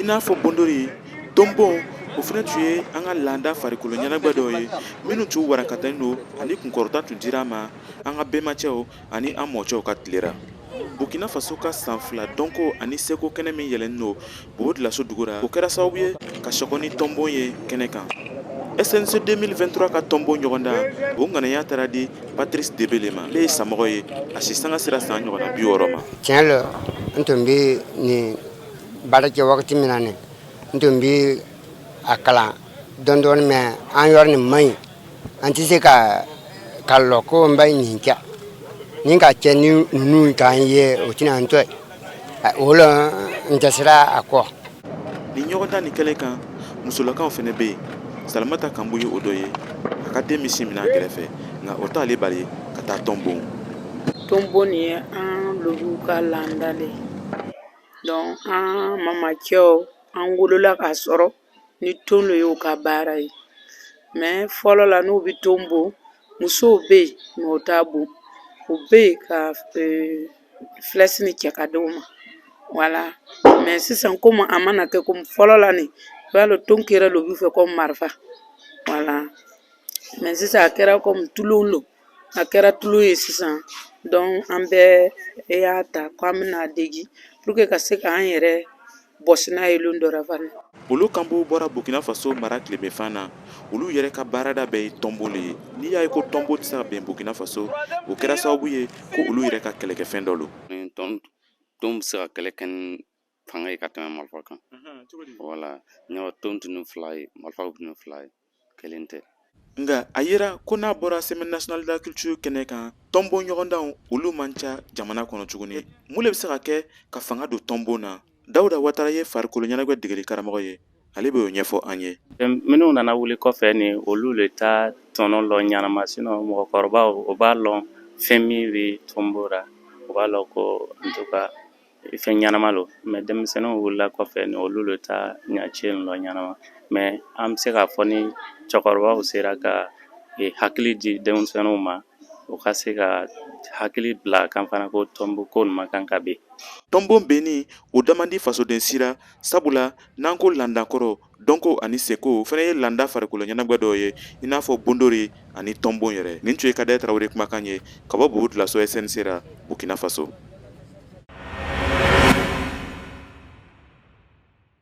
i n'a fɔ bondori tonbon o fana tun ye an ka laada farikolo ɲɛnagwɛ dɔw ye minnu tun warakatalen don ani kunkɔrɔta tun dira ma an ka bɛnbacɛw ani an mɔcɛw ka tile ra burkina faso ka san fila dɔnko ani seko kɛnɛ min yɛlɛnnen don bobo dioulasso dugu ra o kɛra sababu ye ka sɔgɔni tɔnbon ye kɛnɛ kan snc 2023 ka tɔnbon ɲɔgɔndan o ŋanaya taara di patrice debele ma ale ye samɔgɔ ye a si sanga sera san ɲɔgɔnna bi wɔɔrɔ ma tiɲɛ lo n tun bɛ nin baara kɛ wagati min na nin n tun bɛ a kalan dɔɔni dɔɔni mais an yɔrɔ nin man ɲi an tɛ se ka ka lɔ ko n ba nin kɛ ni ka cɛ ni ninnu k'an ye o tɛna an to yen o la n dɛsɛra a kɔ nin ɲɔgɔndan nin kelen kan musolakaw fana bɛ yen salamata kanbu ye o dɔ ye a ka den bɛ sin min a kɛrɛfɛ nka o t'ale bali ka taa tɔn bon tɔnbon nin ye an lobiw ka laada le ye donc an mamacɛw an wolola k'a sɔrɔ ni ton de y'u ka baara ye mais fɔlɔ la n'u bɛ ton bon musow bɛ yen mais o t'a bon u bɛ yen ka flèche nin cɛ ka di u ma voilà mais sisan komi a mana kɛ komi fɔlɔ la n'i b'a lɔn ton kɛra lobi fɛ komi marifa voilà mais sisan a kɛra komi tulon don a kɛra tulon ye sisan donc an bɛɛ y'a ta k'an bɛn'a dege pour que ka se k'an yɛrɛ bɔsi n'a ye lon dɔ ra fana olo kanbu bɔra burkina faso mara tilebenfan na olu yɛrɛ ka baarada bɛɛ ye tɔnbon le ye n'i y'a ye ko tɔnbon tɛ se ka ben burkina faso o kɛra sababu ye ko olu yɛrɛ ka kɛlɛkɛfɛn dɔ don tɔn bɛ se ka kɛlɛ kɛ fanga ye ka tɛmɛ marifa kan voilà ne wa ton tun fila ye marifaw tun fila ye kelen tɛ nka a yera ko n'a bɔra semaine nationale de la culture kɛnɛ kan tɔnbon ɲɔgɔndanw olu man ca jamana kɔnɔ tuguni mun le bɛ se ka kɛ ka fanga don tɔnbon na dawuda watara ye farikolo ɲɛnagwɛ degeli karamɔgɔ ye ale bɛ o ɲɛfɔ an ye minnu nana wuli kɔfɛ nin olu le t'a tɔnɔ lɔn ɲanama sinon mɔgɔkɔrɔbaw o b'a lɔn fɛn min bɛ tɔnbon ra o b'a lɔn ko en tout cas fɛn ɲɛnama lo mais denmisɛnninw wulila kɔfɛ nin olu le t'a ɲɛci lɔn ɲɛnama mais an bɛ se k'a fɔ ni cɛkɔrɔbaw sera ka hakili di denmisɛnninw ma o ka se ka hakili bila kan fana ko tɔnbon ko nin man kan ka ben tɔnbon benni o da man di fasoden si ra sabula n'an ko laada kɔrɔ dɔnko ani seko fana ye landa farikolo ɲɛnagwɛ dɔw ye i n'a fɔ bondori ani tɔnbon yɛrɛ nin tun ye kader tarawele kumakan ye ka bɔ bobo dioulasso snc ra burkina faso